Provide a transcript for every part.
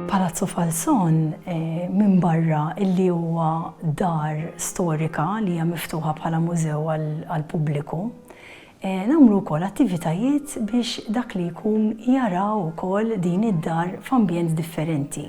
Palazzo Falzon minbarra illi huwa dar storika li hija miftuħa bħala mużew għall-pubbliku, Nagħmlu wkoll attivitajiet biex dak li jkun jara wkoll din id-dar f'ambjent differenti.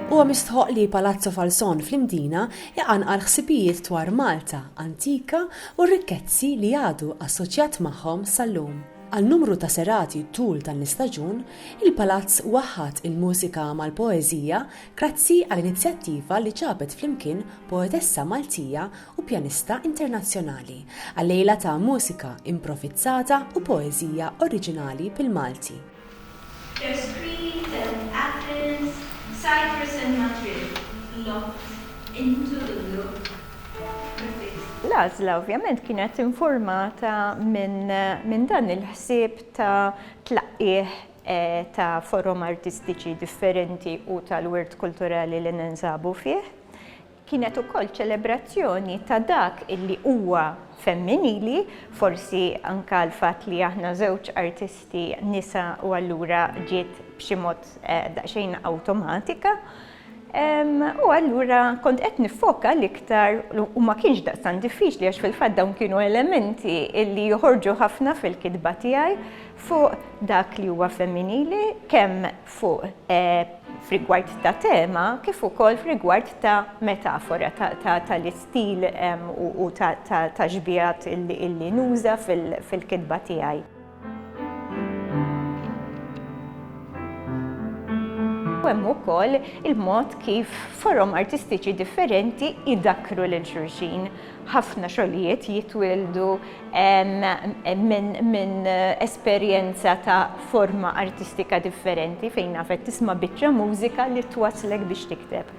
Huwa mistħoqq li Palazzo Falzon fl-Imdina jqanqal ħsibijiet dwar Malta antika u r-rikkezzi li għadu assoċjat magħhom sal-lum. Għal numru ta' serati tul dan l-istaġun, il-Palazz waħħad il-mużika mal-poeżija Grazzi għal inizjattiva li ġabet flimkien poetessa Maltija u pjanista internazzjonali għal lejla ta' mużika improvizzata u poeżija oriġinali bil-Malti. Their screaming then Athens, Cyprus and Madrid locked into the loop with this. L-għażla ovvjament kienet infurmata minn dan il-ħsieb ta' tlaqqigħ ta' forom artistiċi differenti u tal-wirt kulturali li ninsabu fih. Kienet ukoll ċelebrazzjoni ta' dak illi huwa femminili, forsi anke l-fatt li aħna żewġ artisti nisa u allura ġiet b'xi mod daqsxejn awtomatika. U allura kont qed nifoka l-iktar u ma kienx daqsan diffiċli għax fil-fatt dawn kienu elementi li joħorġu ħafna fil-kitba tiegħi fuq dak li huwa femminili kemm fuq eh, frigward ta' tema kif ukoll frigward ta' metafora tal-istil u ta' xbijat illi nuża fil-kitba tiegħi. u hemm ukoll il-mod kif forom artistiċi differenti idakkru lil xulxin. Ħafna xogħlijiet jitwildu minn esperjenza ta' forma artistika differenti fejn nafet tisma' biċċa mużika li twasslek biex tikteb.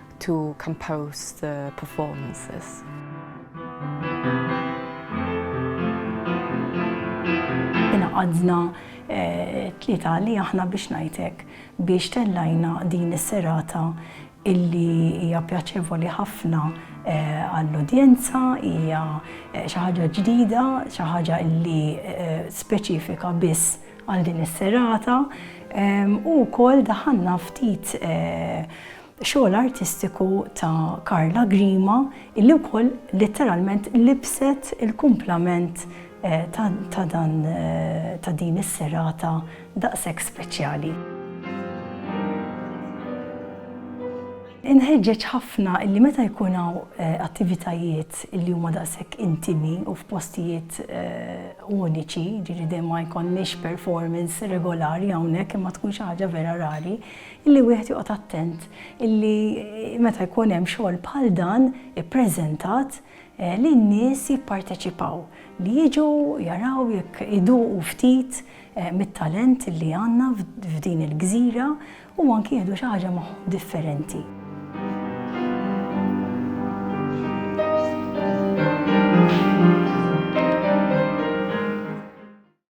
to compose the performances. Inaqadna tlieta li aħna biex ngħidlek biex tellajna din is-serata illi hija pjaċevoli ħafna għall-udjenza, hija xi ħaġa ġdida, xi ħaġa illi speċifika biss għal din is-serata u wkoll daħanna ftit Xogħol artistiku ta' Karla Grima illi wkoll litteralment libset il-kumplament ta' dan ta' din is-serata daqshekk speċjali. Inħeġġeġ ħafna illi meta jkun hawn attivitajiet illi huma daqshekk intimi u f'postijiet uniċi, jiġifieri dejjem ma jkollniex performance regolari hawnhekk imma tkun xi ħaġa vera rari, Illi wieħed joqgħod attent illi meta jkun hemm xogħol bħal dan ippreżentat li n-nies jipparteċipaw, li jiġu jaraw jekk iduqu ftit mit-talent li għandna f'din il-gżira u anki jieħdu xi ħaġa magħhom differenti.